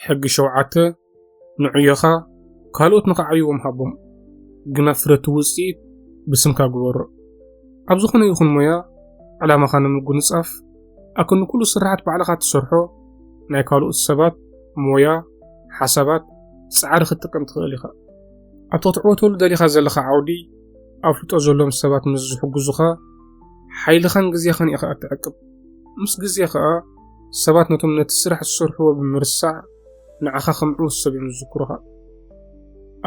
ሕጊ ሸውዓተ ንዕዮኻ ካልኦት ንኽዓይዎም ሃቦም፣ ግና ፍረቲ ውፅኢት ብስምካ ግበሮ። ኣብ ዝኾነ ይኹን ሞያ ዕላማኻ ንምጉንፃፍ ኣክን ኩሉ ስራሓት ባዕልኻ ትሰርሖ ናይ ካልኦት ሰባት ሞያ፣ ሓሳባት፣ ፃዕሪ ክትጥቀም ትኽእል ኢኻ። ኣብቲ ክትዕወተሉ ደሊኻ ዘለኻ ዓውዲ ኣፍልጦ ዘለዎም ሰባት ምስ ዝሕግዙኻ ሓይልኻን ግዜኻን ኢኻ እትዕቅብ። ምስ ግዜ ኸኣ ሰባት ነቶም ነቲ ስራሕ ዝሰርሕዎ ብምርሳዕ ንዓኻ ከም ዕዉት ሰብ እዮም ዝዝክሩኻ።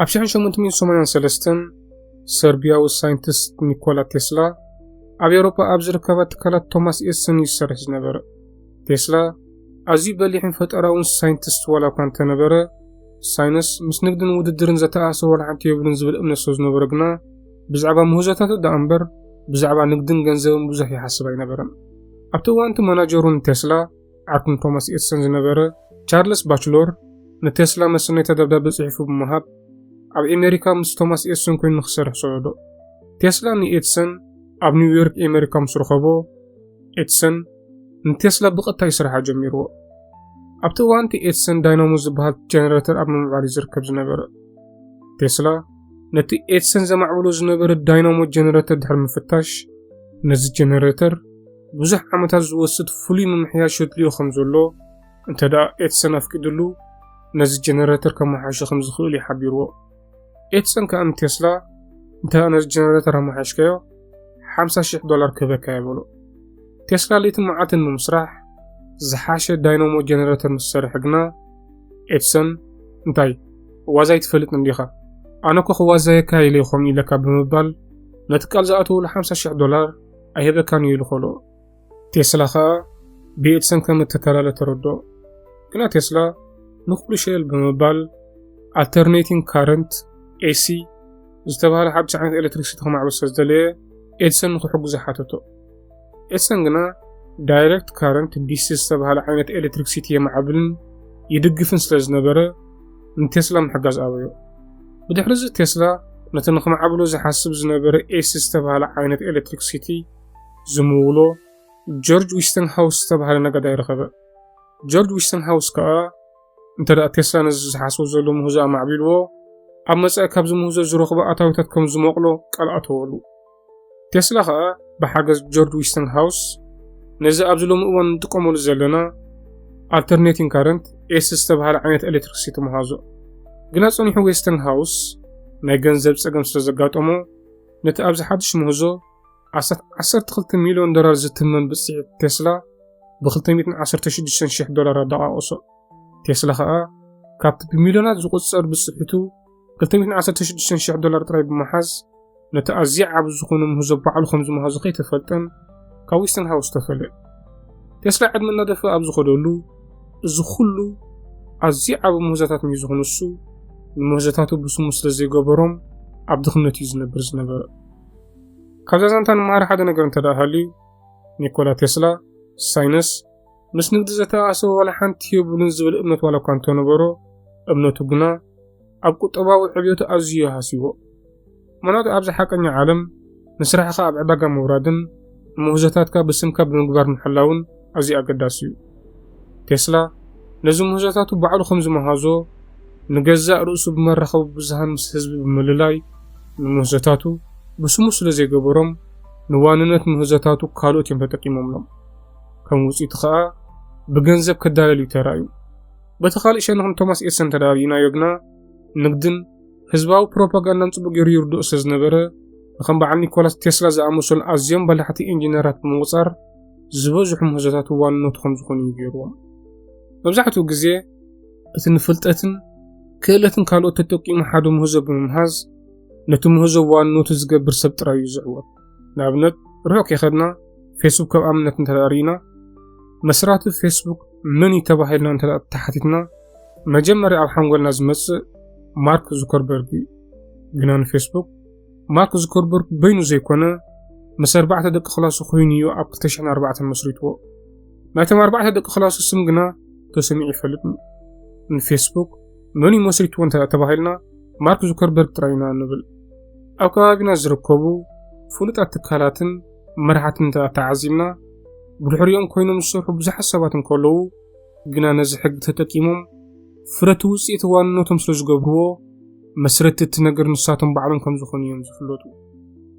ኣብ 1883 ሰርቢያዊ ሳይንቲስት ኒኮላ ቴስላ ኣብ ኤውሮጳ ኣብ ዝርከባ ትካላት ቶማስ ኤድሰን እዩ ዝሰርሕ ዝነበረ። ቴስላ ኣዝዩ በሊሕን ፈጠራውን ሳይንቲስት ዋላ እኳ እንተነበረ ሳይንስ ምስ ንግድን ውድድርን ዘተኣሳሰሮ ሓንቲ የብሉን ዝብል እምነት ስለ ዝነበሮ ግና ብዛዕባ ምህዞታቱ ደኣ እምበር ብዛዕባ ንግድን ገንዘብን ብዙሕ ይሓስብ ኣይነበረን። ኣብቲ እዋን እቲ መናጀሩ ንቴስላ፣ ዓርኩ ንቶማስ ኤድሰን ዝነበረ ቻርለስ ባችሎር፣ ንቴስላ መሰነይታ ደብዳበ ጽሒፉ ብምሃብ ኣብ ኤሜሪካ ምስ ቶማስ ኤድሰን ኮይኑ ንክሰርሕ ሰደዶ። ቴስላ ንኤድሰን ኣብ ኒውዮርክ ኤሜሪካ ምስ ረኸቦ፣ ኤድሰን ንቴስላ ብቐጥታ እዩ ስራሕ ጀሚርዎ። ኣብቲ እዋንቲ ኤድሰን ዳይናሞ ዝበሃል ጀነሬተር ኣብ ምምዕባል እዩ ዝርከብ ዝነበረ። ቴስላ ነቲ ኤድሰን ዘማዕብሎ ዝነበረ ዳይናሞ ጀነረተር ድሕሪ ምፍታሽ ነዚ ጀነረተር ብዙሕ ዓመታት ዝወስድ ፍሉይ ምምሕያሽ የድልዮ ከም ዘሎ እንተ ደኣ ኤድሰን ኣፍቂድሉ ነዚ ጀነረተር ከመሓሾ ከም ዝኽእል እዩ ሓቢርዎ ኤድሰን ከኣ ንቴስላ እንተ ደኣ ነዚ ጀነረተር ኣመሓሽካዮ 50 ሽሕ ዶላር ክህበካ የበሎ ቴስላ ለይትን መዓልትን ንምስራሕ ዝሓሸ ዳይናሞ ጀነረተር ምስ ሰርሐ ግና ኤፍሰን እንታይ ዋዛ ኣይትፈልጥን እንዲኻ ኣነ እኮ ክዋዘየካ ኢለ ይኾም ኢለካ ብምባል ነቲ ቃል ዝኣተወሉ 50 ሽሕ ዶላር ኣይህበካን እዩ ኢሉ ኾሎ ቴስላ ኸኣ ብኤድሰን ከም እተተላለ ተረዶ ግና ቴስላ ንኹሉ ሸል ብምባል ኣልተርኔቲንግ ካረንት ኤሲ ዝተባህለ ሓድሽ ዓይነት ኤሌክትሪክሲቲ ክማዕበል ስለ ዝደለየ ኤድሰን ንክሕግዞ ሓተቶ ኤሰን ግና ዳይረክት ካረንት ዲሲ ዝተባህለ ዓይነት ኤሌክትሪክሲቲ የማዕብልን ይድግፍን ስለ ዝነበረ ንቴስላ ምሕጋዝ ኣበዮ። ብድሕሪ እዚ ቴስላ ነቲ ንክማዕብሎ ዝሓስብ ዝነበረ ኤሲ ዝተባህለ ዓይነት ኤሌክትሪክሲቲ ዝምውሎ ጆርጅ ዊስተን ሃውስ ዝተባህለ ነጋዳይ ረኸበ። ጆርጅ ዊስተን ሃውስ ከዓ እንተ ደኣ ቴስላ ነዚ ዝሓስቦ ዘሎ ምህዞ ኣማዕቢልዎ ኣብ መጻኢ ካብዚ ምህዞ ዝረኽቦ ኣታዊታት ከም ዝመቕሎ ቃል ኣተወሉ። ቴስላ ከኣ ብሓገዝ ጆርጅ ዊስተን ሃውስ ነዚ ኣብዚ ሎሚ እዋን እንጥቀመሉ ዘለና ኣልተርኔቲን ካረንት ኤስ ዝተባሃለ ዓይነት ኤሌክትሪክሲ ተመሃዞ ግና ጸኒሑ ዌስተን ሃውስ ናይ ገንዘብ ጸገም ስለ ዘጋጠሞ ነቲ ኣብዚ ሓድሽ ምህዞ ኣስታት 12 ሚልዮን ዶላር ዝትመን ብጽሒት ቴስላ ብ216,000 ዶላር ኣደቓቐሶ ቴስላ ኸኣ ካብቲ ብሚልዮናት ዝቝጸር ብጽሒቱ 216,000 ዶላር ጥራይ ብምሓዝ ነቲ ኣዝዩ ዓቢ ዝኾነ ምህዞ ባዕሉ ከም ዝመሃዞ ከይተፈልጠን ካብ ዊስተንሃውስ ተፈልየ ቴስላ ዕድመ እናደፈ ኣብ ዝኸደሉ እዚ ኩሉ ኣዝዩ ዓቢ ምህዞታት እዩ ዝኾኑ እሱ ንምህዞታቱ ብስሙ ስለ ዘይገበሮም ኣብ ድኽነት እዩ ዝነብር ዝነበረ ካብዛ ዛንታ ንመሃር ሓደ ነገር እንተደኣ ሃልዩ ኒኮላ ቴስላ ሳይንስ ምስ ንግዲ ዘተኣሰ ዋላ ሓንቲ የብሉን ዝብል እምነት ዋላ እኳ እንተነበሮ እምነቱ ግና ኣብ ቁጠባዊ ዕብዮቱ ኣዝዩ ይሃስይዎ ምክንያቱ ኣብዚ ሓቀኛ ዓለም ንስራሕኻ ኣብ ዕዳጋ ምውራድን ምህዞታትካ ብስምካ ብምግባር ምሕላውን ኣዝዩ ኣገዳሲ እዩ ቴስላ ነዚ ምህዞታቱ ባዕሉ ከም ዝመሃዞ ንገዛእ ርእሱ ብመራኸቢ ብዙሃን ምስ ህዝቢ ብምልላይ ንምህዞታቱ ብስሙ ስለ ዘይገበሮም ንዋንነት ምህዞታቱ ካልኦት እዮም ተጠቂሞምሎም ከም ውጽኢቱ ከኣ ብገንዘብ ክዳለልዩ ተራእዩ። በቲ ካልእ ሸነኽ ንቶማስ ኤድሰን እንተ ርኢናዮ ግና ንግድን ህዝባዊ ፕሮፓጋንዳን ጽቡቕ ገይሩ ይርድኦ ስለ ዝነበረ ንከም በዓል ኒኮላስ ቴስላ ዝኣመሰሉ ኣዝዮም በላሕቲ ኢንጂነራት ብምቑጻር ዝበዝሑ ምህዞታት ዋንነቱ ከም ዝኾኑ እዩ ገይርዎም። መብዛሕትኡ ግዜ እቲ ንፍልጠትን ክእለትን ካልኦት ተጠቂሙ ሓደ ምህዞ ብምምሃዝ ነቲ ምህዞ ዋንነቱ ዝገብር ሰብ ጥራይ እዩ ዝዕወት። ንኣብነት ርሑቕ ከይኸድና ፌስቡክ ከም ኣብነት እንተ ርኢና መስራቲ ፌስቡክ መን እዩ ተባሂልና እንተ ተሓቲትና መጀመርያ ኣብ ሓንጎልና ዝመጽእ ማርክ ዙከርበርግ እዩ ግና ንፌስቡክ ማርክ ዙከርበርግ በይኑ ዘይኮነ ምስ ኣርባዕተ ደቂ ክላሱ ኮይኑ እዩ ኣብ 204 መስሪትዎ ናይቶም ኣርባዕተ ደቂ ክላሱ ስም ግና ተሰሚዑ ይፈልጥኒ ንፌስቡክ መን እዩ መስሪትዎ እንተተባሂልና ማርክ ዙከርበርግ ጥራይ ኢና ንብል። ኣብ ከባቢና ዝርከቡ ፍሉጣት ትካላትን መራሕትን እንተ ተዓዚብና ብድሕሪኦም ኮይኖም ዝሰርሑ ብዙሓት ሰባት እንከለዉ ግና ነዚ ሕጊ ተጠቂሞም ፍረቲ ውፅኢት ዋንነቶም ስለ ዝገብርዎ መስረቲ እቲ ነገር ንሳቶም ባዕሎም ከም ዝኾኑ እዮም ዝፍለጡ።